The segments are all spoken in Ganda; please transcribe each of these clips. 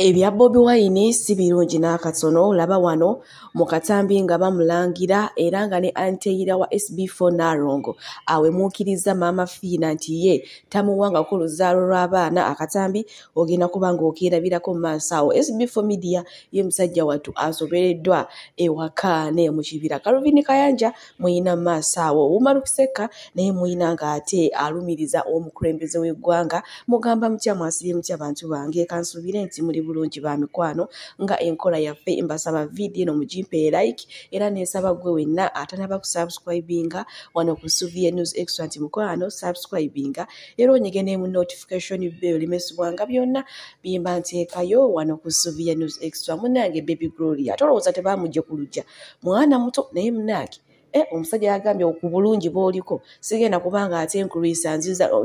Ebya Bobi Wine si birungi n'akatono olaba wano mu katambi nga bamulangira era nga ne anteyira wa SB4 Nalongo awemuukiriza maama Fiina nti ye tamuwangako luzaalo lw'abaana akatambi ogenda kuba ng'okeerabirako mu maaso awo SB4 Media ye musajja wattu asobereddwa ewaka ne mu kibira Calvin Kayanja muyina maaso awo owumalu kuseka naye muyina nga ate alumiriza omukulembeze w'eggwanga mugamba mutya mwasibye mutya bantu bange kansuubire nti muli bulungi ba mikwano nga enkola yaffe mbasaba vidiyo eno mugimpe like era neesaba gwe wenna atanaba kusubscribinga wano ku suvie news extra nti mukwano subscribinga era onyige nemu notification bell limesibwanga byonna bimba nteekayo wano ku suvie news extra munange baby gloria tolowooza tebamugye ku lugya mwana muto naye munaaki e eh, omusajja yagambye ku bulungi bwoliko sigenda kubanga ate nkulwisa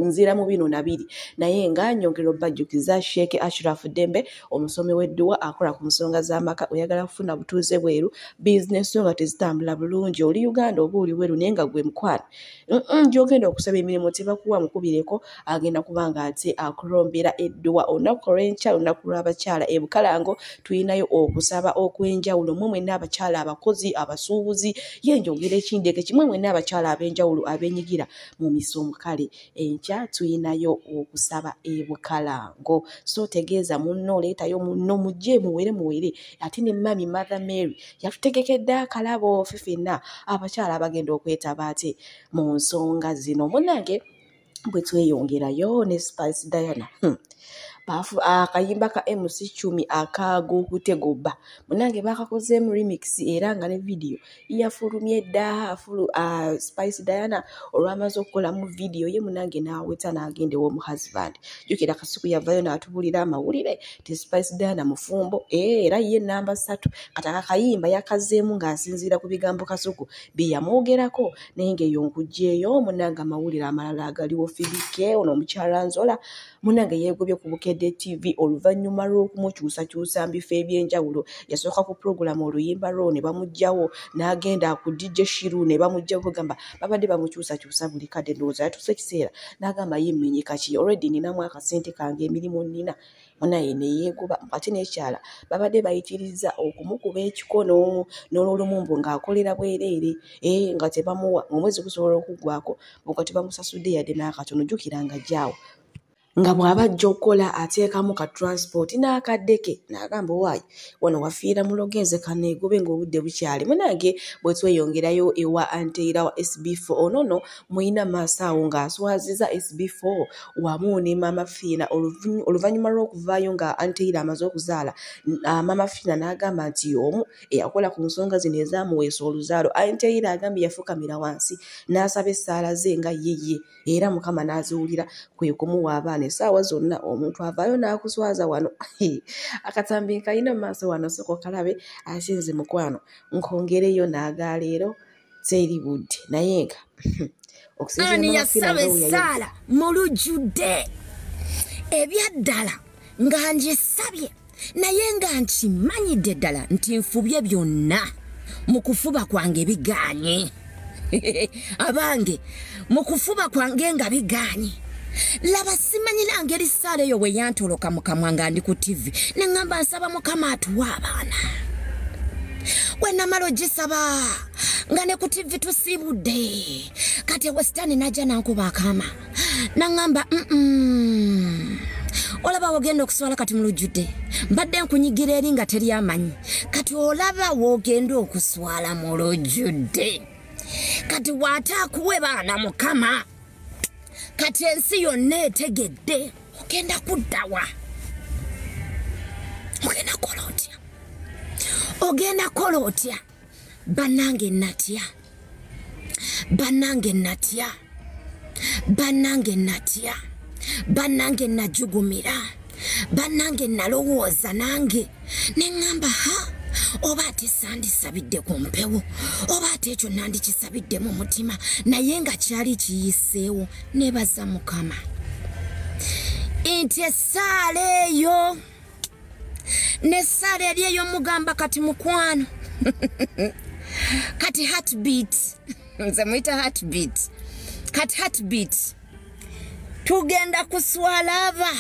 nzira mu bino nabiri naye nga nyongera obajjukiza sheeke ashrafu dembe omusomi w'edduwa akola ku nsonga z'amaka oyagala kufuna butuuze bweru bizinesi yo nga tezitambula bulungi oli uganda oba oli weru naye nga gwe mukwana gyogenda okusaba emirimu tebakuwa mukubireko agenda kubanga ate akulombera edduwa olunaku olwenkyalo olunaku lw'abakyala e bukalango tulinayo okusaba okw'enjawulo mwe mwenna abakyala abakozi abasuubuzi ye njogera ekindeke kimwe mwenna abakyala ab'enjawulo abenyigira mu misomo kale enkya tulinayo okusaba e bukalango so tegeeza munno oleetayo munno mujje muwere muwere ate ne mami mother mary yatutegekedde akalabo ffe fenna abakyala abagenda okwetaba ati mu nsonga zino munange bwe tweyongerayo ne spice diana hmm. baafu akayimba ka mc cumi akagookutegobba munange baakakozeemu remix era nga ne vidiyo yafulumye dda afulu spice diana olwamaze okukolamu vidiyo ye munange n'aweta n'agenda ew'omuhusband jukira kasuku yavayo n'atubulira amawulire kati spice diana mufumbo eh, era ye namba satu kati akakayimba yakazeemu ng'asinziira ku bigambo kasuku bye yamwogerako naye ng'eyo nkugyeyo munange amawulire amalala agaliwo fibike ono omukyala nzola munange yeegobye ku bukedde tv oluvannyuma lw'okumukyusakyusa mbifo eby'enjawulo yasooka ku pulogulaamu oluyimba lwo ne bamugjawo n'agenda ku dj shiru ne bamugjawo kugamba babadde bamukyusakyusa buli kadde ndowooza yatuusa ekiseera n'agamba yiminyikaki olredi ninamu akasente kange emirimu nina munaye neyegoba ate nekyala babadde bayitiriza okumukuba ekikono nololumu mbu ngaakolera bwereere e nga tebamuwa omwezi gusobola okuggwako nga tebamusasudde yadde n'akatono jukira nga gyawo nga bw'aba ajja okukola ateekamu ka transport n'akaddeke n'agamba owaayi wano wafiira muloga enzeka negobe ng'obudde bukyali munange bwe tweyongerayo ewa anteira wa sb4 onono muyina maaso awo ng'aswaziza sb4 wamu ne maama fiina oluvannyuma lw'okuvaayo nga anteira amaze okuzaala ah, maama fiina n'agamba nti omu eyakola ku nsonga zino ezamuweesa oluzaalo anteira agambye yafukamira wansi n'asaba essaala ze nga yeye era mukama n'aziwulira kwe kumuwa abaana essaawa zonna omuntu avaayo n'akuswaza wano akatambi nkalina mu maaso wano soko kalabe ate nze mukwano nkongereyo n'agaleero teri budde naye nga okusinzira mu yasaba essaala mu lujjudde ebyaddala nga ngisabye naye nga nkimanyidde ddala nti nfubye byonna mu kufuba kwange bigaanye abange mu kufuba kwange nga bigaanye laba simanyira ngeri saala eyo bwe yantoloka mukamwa nga ndi ku tivi ne ŋŋamba nsaba mukama atuwa abaana bwe namala ogisaba nga ne ku tivi tusiibudde kati ewe sitaani n'ajja nankuba akaama naŋŋamba olaba wogenda okuswala kati mu lujjudde mbadde nkunyigira eri nga teri amanyi kati olaba wogenda okuswala mu lujjudde kati waataakuwe baana mukama kati ensi yonna etegedde ogenda kuddawa ogenda kukola otya ogenda kukola otya banange natya banange natya banange natya banange najugumira banange nalowooza nange neŋamba ha oba ate sandisabidde ku mpewo oba ate ekyo nandikisabidde mu mutima naye nga kyali kiyiseewo nebaza mukama nti essaala eyo nesaala eri eyomugamba kati mukwano kati heartbeat nze muyita heartbeat kati heartbeat tugenda kuswala aba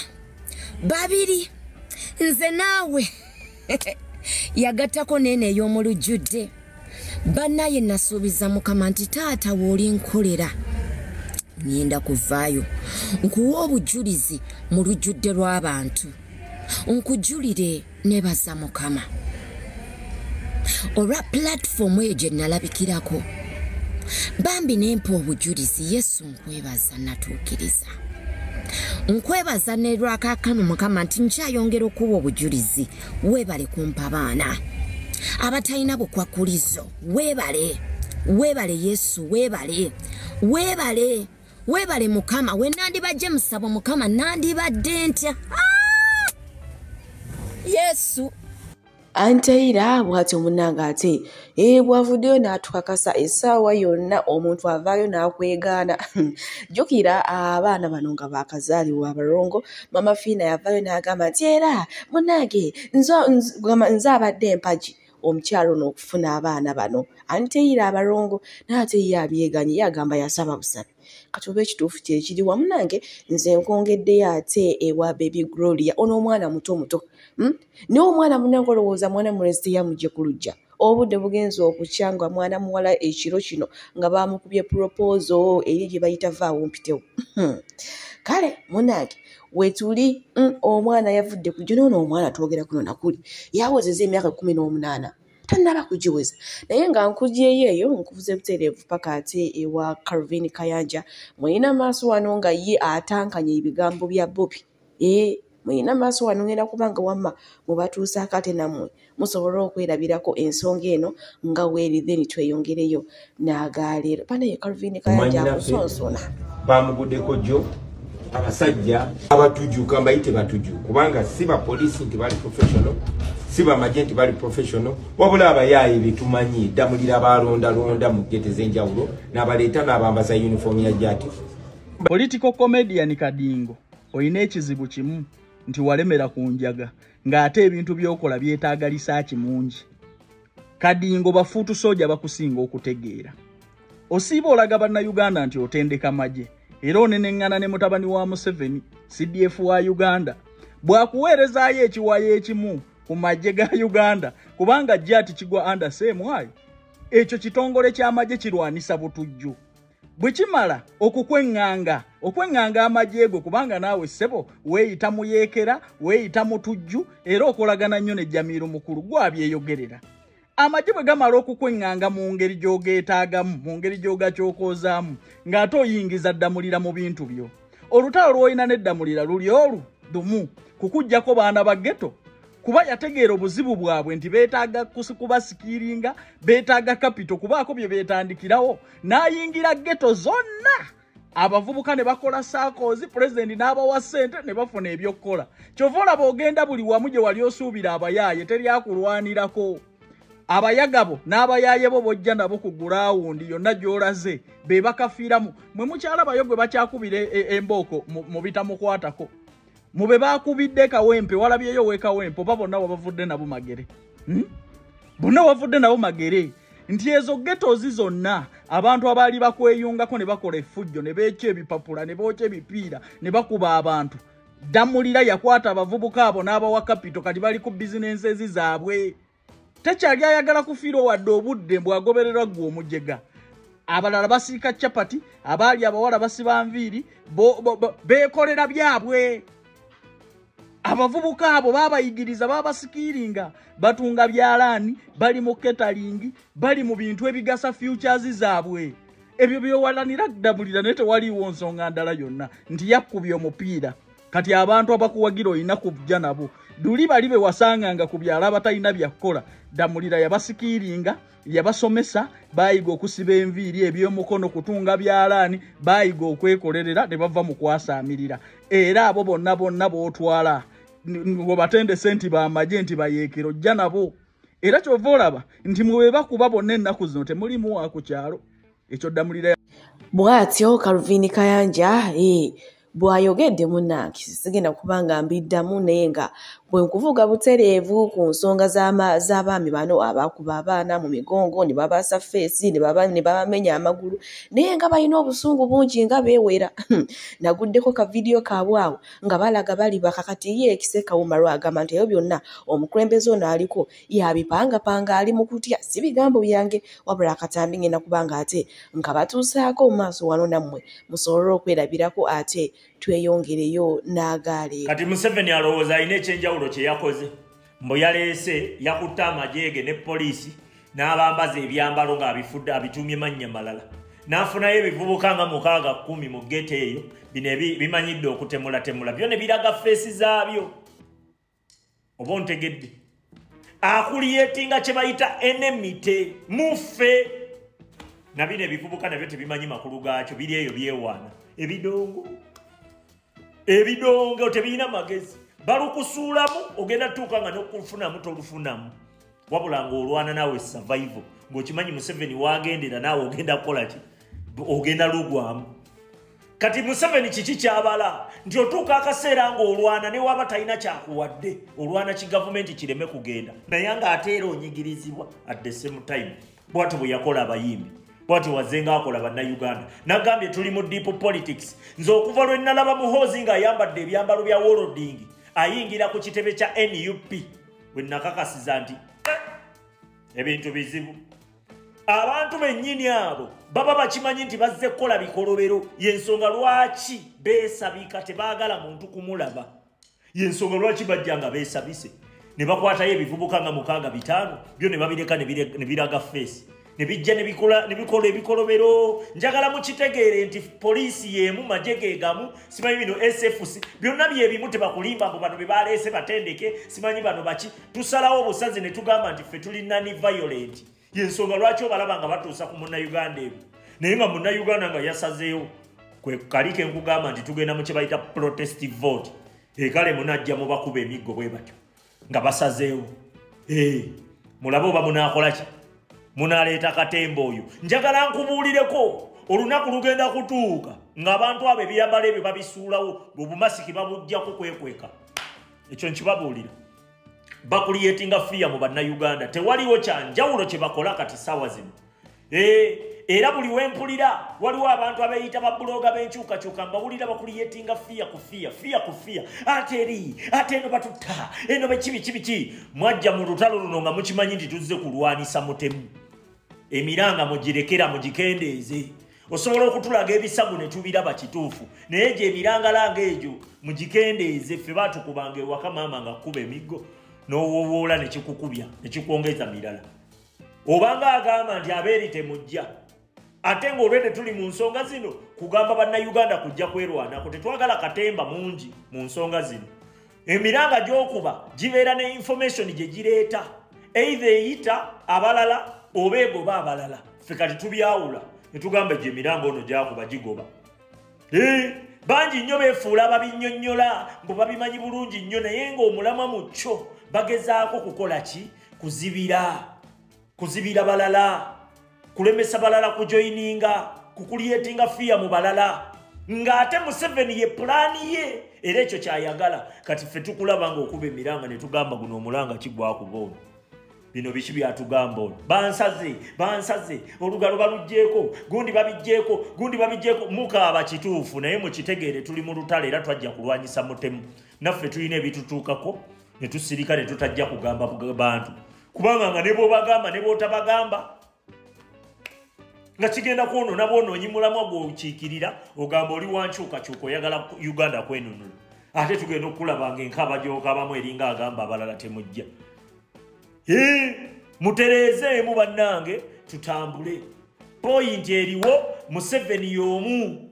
babiri nze naawe yagattako neene ey'omulujjudde banaye nasuubiza mukama nti taata wooli nkolera ngenda kuvaayo nkuwa obujulizi mu lujjudde lw'abantu nkujulire nebaza mukama olwa pulatifomu eyo gye nalabikirako bambi nempa obujulizi yesu nkwebaza natuukiriza nkwebaza nelwakakano mukama nti nkyayongera okuwa obujulizi webale kumpa baana abatalina bukwakkulizo webale webale yesu webale webale webale mukama we nandibajje musabo mukama nandibadde ntya ah! yesu anteyira bwatyo munange ate ee bwavuddeyo n'atukakasa essaawa yonna omuntu avaayo n'akwegaana jjukira abaana bano nga baakazaalibwa abalongo mama fiina yavaayo n'agamba nti era munange nze abadde empagi omukyalo n'okufuna abaana bano ani teyira abalongo naye ate ye abyeganye ye agamba yasaba busabi kati oba ekituufu kyekiri wamu nange nze nkwongeddeyo ate ewa bebi gloria ono omwana muto muto hmm? naye omwana munange olowooza mwana mulesite yamugye ku lujja obudde bugenza okukya nga mwana muwala ekiro kino nga bamukubye puropoozo eri gye bayita vaawo mpitewo hmm. kale munange wetuli hmm, omwana yavudde kujja noono omwana twogera kuno nakuli yawezeza emyaka kumi n'omunaana tannaba kugiweza naye nga nkugyeyo eyo nkubuza ebutereevu paka ate ewa carvin kayanja mulina maaso wano nga ye atankanya ebigambo bya bobi ee eh, muyina maaso wano ngenda kubanga wamma mubatuusaako ate nammwe musobole okwerabirako ensonga eno nga weeri then tweyongereyo n'agaleero banaye calvin kayajakusonsona bamugudeko jo abasajja abatujuka mbayite batuju kubanga si bapoliisi nti bali professional si bamagye nti bali professional wabula abayaaye betumanyi ddamulira balondalonda mu gete z'enjawulo n'abaleeta n'abambaza yunifoomu ya jati political comedian kadingo olina ekizibu kimu nti walemera ku njaga ng'ate ebintu by'okola byetaaga lisaaki mungi kadingo bafuutu sooja bakusinga okutegeera osiiba olaga bannayuganda nti otendeka magye era oneneŋŋana ne mutabani wa museveni cdf wa uganda bwakuweerezaayo ekiwayo ekimu ku magye ga uganda kubanga jati kigwa under same wayo ekyo kitongole ky'amagye kirwanisa butujju bwe kimala okukweŋŋanga okweŋŋanga amagye go kubanga naawe ssebo weeyita mu yeekera weeyita mu tujju era okolagana nnyo ne jamiiro mukulu gwabyeyogerera amagye bwe gamala okukweŋŋanga mu ngeri gy'ogeetaagamu mu ngeri gy'ogakyokoozaamu ng'ate oyingiza ddamulira mu bintu byo olutalo lw'olina n'eddamulira luli olu dumu kukuggyako baana ba geto kuba yategeera obuzibu bwabwe nti beetaaga kubasikiiringa beetaaga kapito kubaako bye beetandikirawo n'ayingira geto zonna abavubuka ne bakola saakoozi pulezidenti n'abawa ssente ne bafuna ebyokukola kyova olaba ogenda buli wamu gye wali osuubira abayaaye teryakulwanirako abayagabo n'abayaaye bo bojja nabo ku gulawundi yonna gy'olaze be bakafiiramu mwe mukyalabayo gwe bakyakubira e, e, embooko mu bitamukwatako mu be baakubidde kawempe walabyeyo owekawempe oba bonna wabavudde nabo magere hmm? bonna wavudde nabo magere nti ezo getozi zonna abantu abaali bakweyungako ne bakola efujjo ne beekya ebipapula ne bookya ebipiira ne bakuba abantu ddamulira yakwata abavubuka abo n'abawa kapito kati bali ku bizinensi ezi zaabwe tekyali ayagala kufiirwa wadde obudde mbu agobererwa ggwe omujega abalala basiika capati abaali abawala basiba nviiri beekolera byabwe abavubuka abo babayigiriza babasikiiringa batunga byalaani bali mu ketalingi bali mu bintu ebigasa futures zaabwe ebyo byewalanira ddabulira naye tewaliiwo nsonga ndala yonna nti yakkubya omupiira kati abantu abakuwagira olina kujja nabo duli bali be wasanganga ku byalo abatalina byakukola damulira yabasikiiringa yabasomesa bayiga okusiba enviiri ebyomukono kutunga byalaani bayiga okwekolerera ne bava mu kwasaamirira era abo bonna bonna bootwala webatendese nti bamagye nti bayeekero jja nabo era kyova olaba nti mwebebakuba bonna ennaku zino temulimu wa ku kyalo ekyo damulira bwatyo kaluvini kayanja ee eh, bw'ayogedde munnange sigenda kuba nga mbiddamu naye nga bwe nkuvuga butereevu ku nsonga z'abaami bano abakuba abaana mu migongo ne babaasa feesi ne babamenya amagulu naye nga balina obusungu bungi nga beewera naguddeko ka vidiyo kaabwe awo nga balaga bali bakakati ye ekise kawumarw agamba nti ebyo byonna omukulembeze ono aliko yabipangapanga ali mu kutya si bigambo byange wabula akatambi ngenda kubanga ate nga batuusaako mu maaso wano nammwe musobole okwerabirako ate tweyongereyo n'agaali kati museveni alowooza alina ekyenjawulo kye yakoze mbu yaleese yakutte amajeege ne poliisi n'abambaza ebyambalo ng'abifudde abituumye mannya malala n'afunayo ebivubuka nga mukaaga kkumi mu geto eyo bino bimanyidde okutemulatemula byo ne biraga feesi zaabyo oba ontegedde akuliyetinga kye bayita enemite muffe na bino ebivubuka nabyo tebimanyi makulu gaakyo biri eyo byewaana ebidongo ebidongo tebirina magezi balukusuulamu ogenda tutuuka nga nokufunamu tolufunamu wabula ng'olwana naawe survival ng'okimanyi museveni waagendera naawe ogenda kukola ki ogenda lugwamu kati museveni kiki kyabala nti otuuka akaseera ng'olwana ne waba talina kyakuwadde olwana ki gavumenti kireme kugenda naye ng'ate era onyigirizibwa at the same time bwati bwe yakola abayimbi bwati wazenga akola bannayuganda nagambye tuli mu deep politics nze okuva lwe nnalaba muhoozi ng'ayambadde ebyambalo bya wolodingi ayingira ku kitebe kya nup bwe nakakasiza nti eh, ebintu bizibu abantu bennyini abo baba bakimanyi nti bazze kukola bikolobero yensonga lwaki beesabika tebaagala muntu kumulaba yensonga lwaki bajja nga beesabise ne bakwatayo ebivubuka nga mukaaga bitaano byo ne babireka ne biraga feesi ne bijja ne bikola ne bikola ebikolobero njagala mukitegeere nti poliisi y'emu magye ge gamu simanyi bino sfc byonna bye bimu tebakulimba mbu bano be baleese batendeke simanyi bano baki tusalawo obusazi ne tugamba nti ffe tuli nani violent yensonga lwaki obalaba nga batuusa ku munnayuganda emu naye nga munnayuganda nga yasazeewo kwe kali ke nkugamba nti tugenda mu kye bayita protest vote ekale munajja mubakuba emiggo bwe batyo nga basazeewo eh, mulabe oba munaakola ki munaleeta katemba oyo njagala nkubuulireko olunaku lugenda kutuuka ng'abantu abo ebiyambala ebyo babisuulawo obumasiki babujjako kwekweka ekyo nkibabuulira bakuliyetinga fiya mu bannayuganda tewaliwo kyanjawulo kye bakola kati saawa zino Eh, era buli wempulira waliwo abantu abeyita babuloga benkyukakyuka mbawulira bakuliyetinga fiya ku fiya fiya ku fiya ate eri ate eno batutta eno bekibikibiki mwajja mu lutalo luno nga mukimanyi nti tuzze kulwanisa mutemu emiranga mugirekera mugikendeeze osobola okutulaga ebisago ne tubiraba kituufu naye egyo emirangalanga egyo mugikendeeze ffe batukubanga ewaka maama nga kkuba emiggo n'owowoola ne kikukubya ne kikwongeza mirala obanga agamba nti abeeri temujja ate ng'olwedde tuli mu nsonga zino kugamba bannayuganda kujja kwerwanako tetwagala katemba mungi mu nsonga zino emiranga gy'okuba gibeera ne information gye gireeta eitha eyita abalala oba egoba abalala ffe kati tubyawula ne tugamba gye emiranga ono gyakuba gigoba bangi nnyo beefuula babinnyonnyola mbu babimanyi bulungi nnyo naye ng'omulamwa mu kyo bagezaako kukola ki kuzibira kuzibira balala kulemesa balala kujoyininga kukuliyetinga fiya mu balala ng'ate museveni ye pulaani ye era ekyo kyayagala kati ffe tukulaba ngaokuba emiranga ne tugamba guno omulanga kigwakuba ono bino biki byatugamba ono bansaze bansaze olugalo balugjeeko gundi babijjeeko gundi babijjeeko mukaaba kituufu naye mukitegeere tuli mu lutale era twajja kulwanyisa mutemu naffe tulina ebitutuukako ne tusirika ne tutajja kugamba bantu kubanga nga ne bwobagamba ne bwotabagamba nga kigenda kwonona bwonoonyi mulamwa gwokiikirira ogamba oli wankyukakyuka oyagala uganda kwenunula ate tugenda okukulabanga enkaaba gyokabamu eringa agamba abalala temujja mutereezeemu bannange tutambule poyinti eriwo museveni y'omu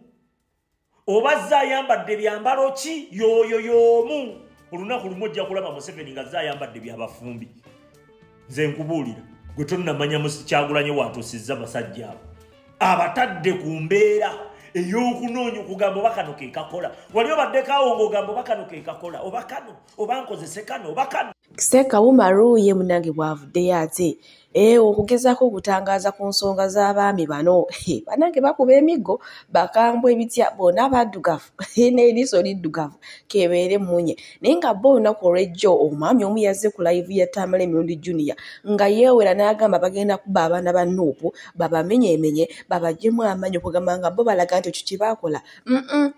oba zze ayambadde byambalo ki yooyo yoomu olunaku lumu ojja kulaba museveni nga zze ayambadde byabafumbi nze nkubuulira gwe tonnamanya musikyagulanye waatuusizza basajja abo abatadde ku mbeera ey'okunoonya okugamba oba kano ke kakola wali obaddekaawo ng'ogamba oba kano ke kakola oba kano oba nkozese kano oba kano seeka wumaruuye munange bwavuddeyo ate Eh, okugezaako okutangaaza ku nsonga z'abaami bano eh, banange bakuba emiggo bakambwa ebitya bona abaddugavu eh, n'eriiso liddugavu kebeere munye naye nga bo olunaku olwejjo omwami omu yazze ku layivu ya tamala emirundi junior nga yeewera n'agamba bagenda kuba abaana ba nuupu babamenyeemenye babajemu amaanyi okugamba nga bo balaga nti ekyo kye baakola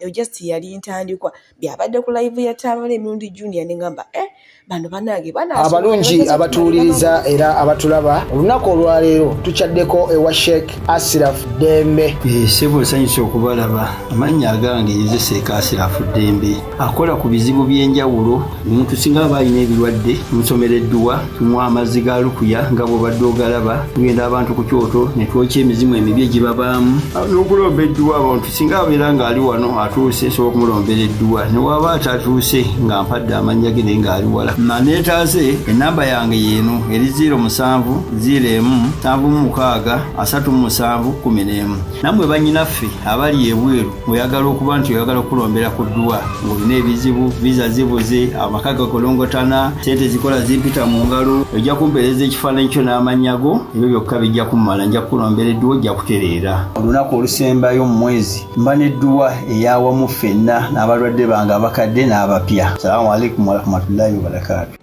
just yali ntandikwa byabadde ku live ya tamale emirundi junior nengamba eh bano banange abalungi abatuwuliriza era abatulaba olunaku olwaleero tukyaddeko ewa sheik asiraf dembe eh, sebo nsanyusa okubalaba amannya agange yozeseeka asiraf dembe akola ku bizibu by'enjawulo omuntu singa aba alina ebirwadde musomera edduwa tunywa amazzi ga lukuya nga bwobadde ogalaba tugenda abantu ku kyoto netwokya emizimu emibi egibabaamu n'okulomba edduwa abantu singa abeera ng'ali wano atuuse nsobola okumulombera edduwa newaaba atatuuse nga mpadde amannya ge naye ng'ali wala maneetaase enamba yange yeeno eri 0 musanvu 0 emu nsanvu mu mukaaga asatu mu musanvu kumi n'emu nammwe bannyinaffe abali ebweru oyagala okuba nti oyagala okukulombera ku dduwa ng'olina ebizibu viza zibuze amaka gakolongotana sente zikola zimpita mu ngalo ojja kumpeereza ekifaananyi kyo n'amannya go ebyo byokka bijja kummala nja kukulombera edduwa ojja kutereera olunaku olusembayo mu mwezi mba nedduwa eyawamu ffenna n'abalwadde bange abakadde n'abapya salamu aleikum warahmatullahi wabarakatu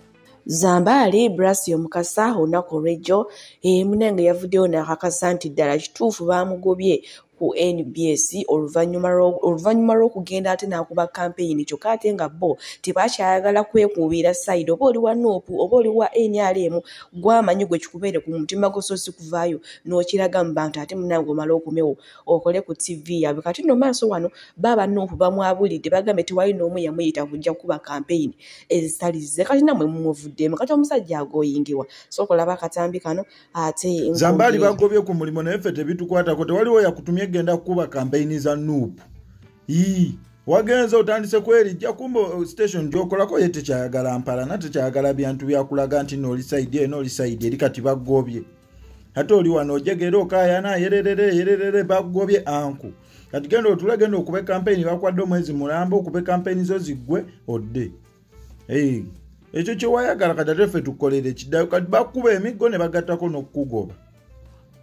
zambaali brasio mukasa olunaku olwejjo eh, munange yavuddeyo nakakasa nti ddala kituufu baamugobye ku nbs oluvannyuma lw'okugenda ate n'akuba kampeyini kyokka ate nga bo tebakyayagala kwekuubira sayidi oba oli wa nuupu oba oli wa nrm gwamanyi gwe kikubeere ku mutima gwo so si kuvaayo n'okiraga mu bantu ate munange omala okomewo okole ku tv yabwe kati no maaso wano baaba nuupu bamwabulidde bagambe tewali n'omu yamuyita kujja kukuba kampeyini ezitalize kati namwe mumuvuddemu kati omusajja agoyingiwa sokolaba akatambi kano ate zambaali bagobye ku mulimu naye ffe tebitukwatako tewaliwo yakutumye genda kukuba kampeyini za nuupu ii wagenze otandise kwerijja kumba uh, station gyokolako ye tekyayagala mpalana tekyayagala byantu byakulaga nti nooli saidi eno oli saidi eri kati bagobye ate oli wano ojegera okayana yererere yererere bagobye anku kati genda otula genda okube kampeyini bakwadde omwezi mulamba okube kampeyini zo ziggwe odde ekyo kyewayagala kati ate ffe tukolere kidayo kati bakuba emiggo ne bagattako n'okukugoba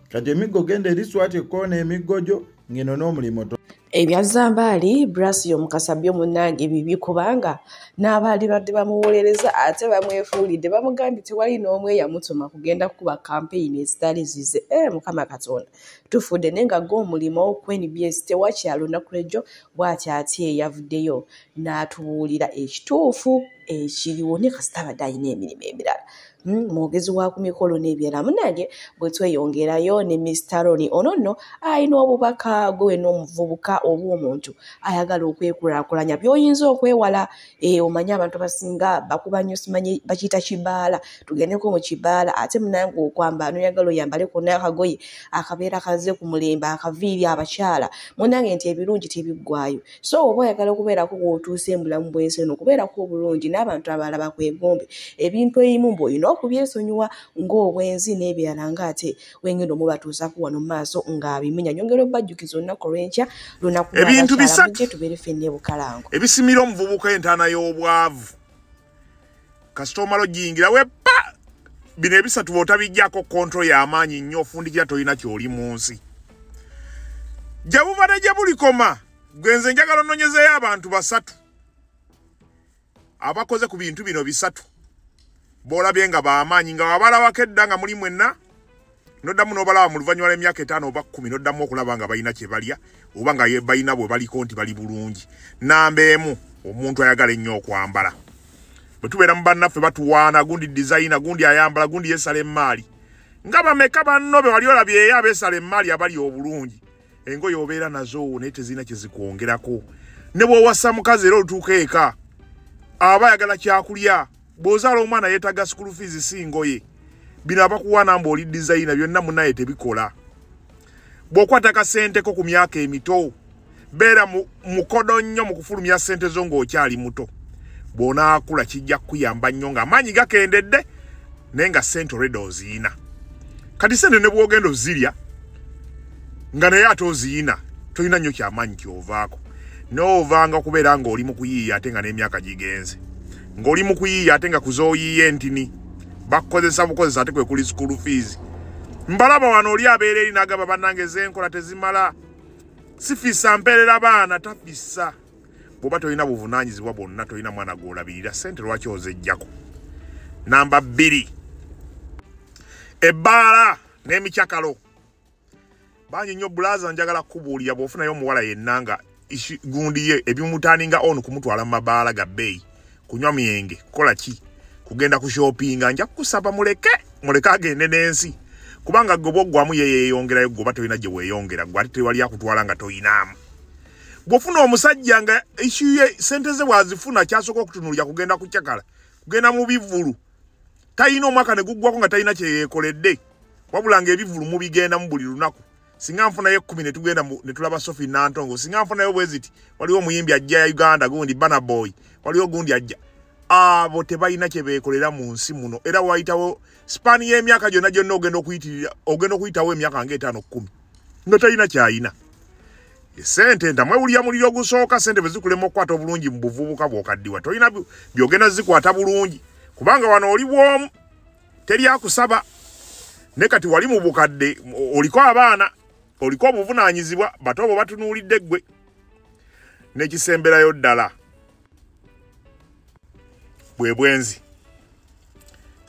kati emiggo genda eri swati ekkoona emiggo gyo ngeno n'omulimu ebya zambaali brass yomukasa byo munange bibi kubanga n'abaali badde bamuwolereza ate bamwefuulidde bamugambye tewali n'omu eyamutuma kugenda kukuba kampeyini ezitali zize e eh, mukama katonda tufudde naye nga ge omulimu ku nbs tewakyalo lunaku lwejjo bwati ati eyavuddeyo n'atubuulira ekituufu ekiriwo ne kasita abadde alina emirimu emirala Hmm, mwogezi wa ku mikolo n'ebirala munange bwe tweyongerayo ne mista roni ono nno alina obubaka gwe wena omuvubuka oba omuntu ayagala okwekulakulanya byoyinza okwewala eh, omanye abantu abasinga bakuba nyo simanyi bakiyita kibaala tugendeko mu kibaala ate munange okwambala noyagala oyambale kona akagoye akabeera kaze ku mulembe akaviiri abakyala munange nti ebirungi tebiggwayo so oba oyagala okubeerako wootuusa embulamu bwensi eno okubeerako obulungi n'abantu abalala bakwegombe ebintu eyimu mbu olina okubyesonyiwa ng'obwenzi n'ebirala ng'ate wengenda omubatuusaku wano mu maaso ng'abimenya nyongera obajjukiza olunaku olwenkya lunaku ebintu bisatu tubeere fenna ebukalango ebisimira omuvubuka entaana y'obwavu kasita omala ogiyingira wepa bino ebisatu bwotabijjako kontrol y'amaanyi nnyo ofundikira tolina kyoli mu nsi gye buva ne gye bulikoma gwe nze njagala ononyezeyo abantu basatu abakoze ku bintu bino bisatu boolabye nga bamaanyi nga wabalabako edda nga muli mwenna noddamu n'obalaba mu luvannyuma lw'emyaka etaano oba kkumi noddamu okulaba nga balina kye balya oba nga balina bwe baliko nti bali bulungi namba emu omuntu ayagala ennyo okwambala bwe tubeera mu bannaffe batuwaana gundi dizayina gundi ayambala gundi yesala emmaali nga bameka banno be wali olabyeyo abesala emmaali abali obulungi engoye obeera nazo naye tezirina kyezikwongerako ne bwowasa mukazi era olutuuka eka aba ayagala kyakulya bw'ozaala omwana yeetaga sukulu fiizi si ngoye bino abakuwaana mbu oli dizayina byonna munaye tebikola bw'okwata kasenteko ku myaka emito beera mu mukodo nnyo mu kufulumya ssente zo ng'okyali muto bw'onaakula kijja kukuyamba nnyo ng'amaanyi gakendedde naye nga ssente olwedda oziyina kati ssente ne bw'ogenda ozirya nga naye ate oziyina tolina nnyo kyamaanyi kyovaako n'ovanga okubeera ng'oli mu kuyiiya ate nga n'emyaka gigenze ng'oli mu kuyiiya ate nga kuzooyiiya entini bakukozesa bukozesa ate kwe kuli school fees mbalaba wano oli abeera eri n'agamba bannange zenkola tezimala sifisa mperera baana tafisa bwoba tolina buvunanyizibwa bwonna tolina mwana gwolabirira sente lwaki ozejjako namba bbiri ebbaala n'emikyakalo bangi nnyo bulaza njagala kukubuulira bw'ofunayo omuwala yenna nga gundi ye ebimutaaninga onu kumutwala mu mabaala ga bbeeyi kunywa myenge kukola ki kugenda ku shoppinga nja kusaba muleke muleke agende n'ensi kubanga gwe bwoggwamu ye yeeyongerayo gwe oba tolina gye weeyongera gwe ate tewali akutwala nga toyinaamu gwofuna omusajja nga ekiye sente ze bwazifuna kyasooka okutunulira kugenda kucakala kugenda mu bivulu talina omwaka ne guggwako nga talina kye yeekoledde wabula nga ebivulu mubigendamu buli lunaku singa nfunayo ekkumi ne tugenda ne tulaba sofi nantongo singa nfunayo bwe ziti waliwo omuyimbi ajja ya uganda gundi bana boy waliwo gundi ajja abo tebalina kye beekolera mu nsi muno era wayitawo sipaani y'emyaka gyonna gyonna ogenda okuyitirira ogenda okuyitawo emyaka nga etaano kkumi nga talina kyayina esente ntamwewulira muliro ogusooka sente bwe zikulema okukwata obulungi mu buvubuka bwokaddiwa tolina byogenda zikwata bulungi kubanga wano oli bwomu teri akusaba ne kati wali mu bukadde oliko abaana oliko obuvunaanyizibwa bato obo batunuulidde ggwe n'ekisemberayo ddala bwe bwenzi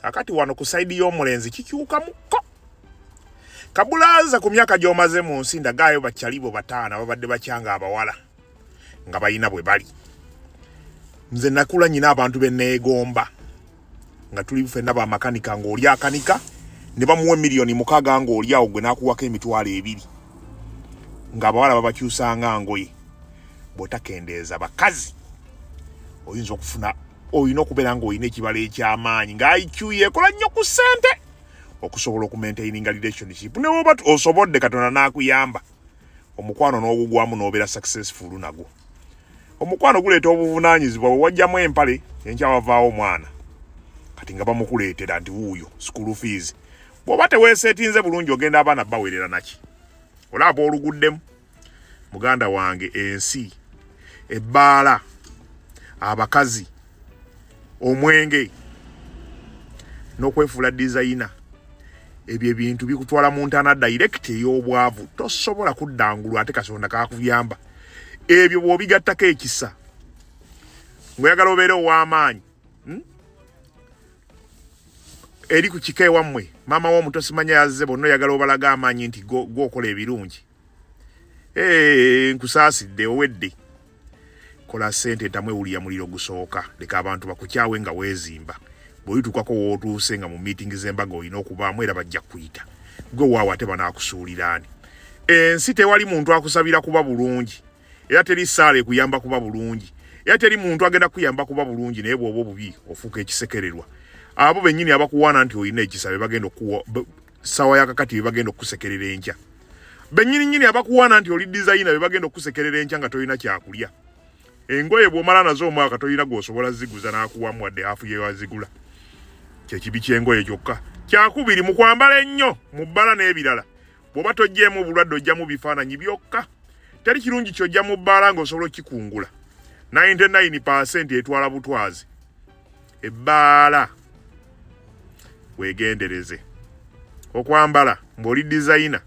kakati wano ku saidi y'omulenzi kikyukamukko kabulaaza ku myaka gy'omaze mu nsi ndagaayo bakyalibo bataana babadde bakyanga abawala nga balina bwe bali nze nakula nyina abantu benneegomba nga tuli fenna ba makanika nga oli akanika ne bamuwa milioni mukaga nga oli awo gwe nakuwako emitwalo ebiri nga abawala babakyusanga ngoye bwotakendeeza bakazi oyinza okufuna olina okubeera nga olina ekibalo ekyamaanyi nga iq yekola nnyo ku ssente okusobola okumaintaininga relationship newoba osoboodde katonda n'akuyamba omukwano n'ogugwamu n'obeera successful nagwo omukwano guleeta obuvunaanyizibwa bwe wajjamu empale enkya wavaawo omwana kati nga bamukuleetera nti wuuyo school fees bw'oba teweeseetinze bulungi ogenda abaana bawerera naki olaba oluguddemu muganda wange ensi ebbaala abakazi omwenge n'okwefuula dizayina ebyo ebintu bikutwala mu ntaana direct ey'obwavu tosobola kuddangulu ate kasonda kakuyamba ebyo bw'obigattako ekisa ngoyagala obeere ow'amaanyi hmm? eri ku kika ewammwe maama w'omuto simanya yazze bonna oyagala obalaga amaanyi nti gwokola ebirungi Hey, nkusaasidde owedde kola sente ntamwe wulira muliro gusooka leka abantu bakukyawe nga weezimba bwolituukako wootuuse nga mu miitingi z'embaga olina okubaamu era bajja kuyita gwe waawo ate banaakusuuliraani ensi tewali muntu akusabira kuba bulungi era teri saala ekuyamba kuba bulungi era teri muntu agenda kuyamba kuba bulungi naye bwoba obubi ofuuka ekisekererwa abo bennyini abakuwaana nti olina ekisa be bagenda okuwa sawa ya kakati bagenda okusekerera enkya benyini nyini abakuwana nti oli designer be bagenda okusekerera enkya nga toyina kyakulya engoye bwomala nazo omwaka toyina gwosobola ziguza nakuwamu wadde hafu yewazigula kyekibi kyengoye kyokka kyakubiri mu kwambala ennyo mu bbala n'ebirala bwoba tojjeemu obulwadde ojjamu bifaananyi byokka teri kirungi kyojja mu bbaala nga osobola okikungula 99 etwala butwazi ebbaala wegendereze okwambala ng'oli dizayina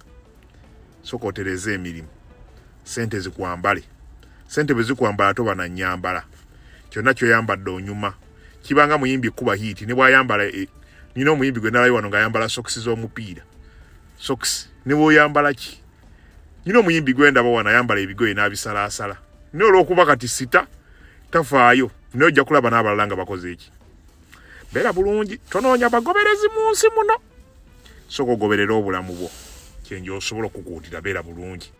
soka otereze emirimu sente zikwambale sente bwe zikwambala toba na nyambala kyonna kyoyambadde onyuma kibanga muyimbi kuba hiiti ne bwayambala e, nina omuyimbi gwe nalayo wano ng'ayambala sokisi z'omupiira sokisi ne bwoyambala ki nina omuyimbi gwendaba wano ayambala ebigoye n'abisalaasala naye olw'okuba kati sita tafaayo naye ojja kulaba n'abalala nga bakoze eki beera bulungi tonoonya bagoberezi mu nsi muno soka ogoberera obulamu bwo kyenja osobola okukuutira beera bulungi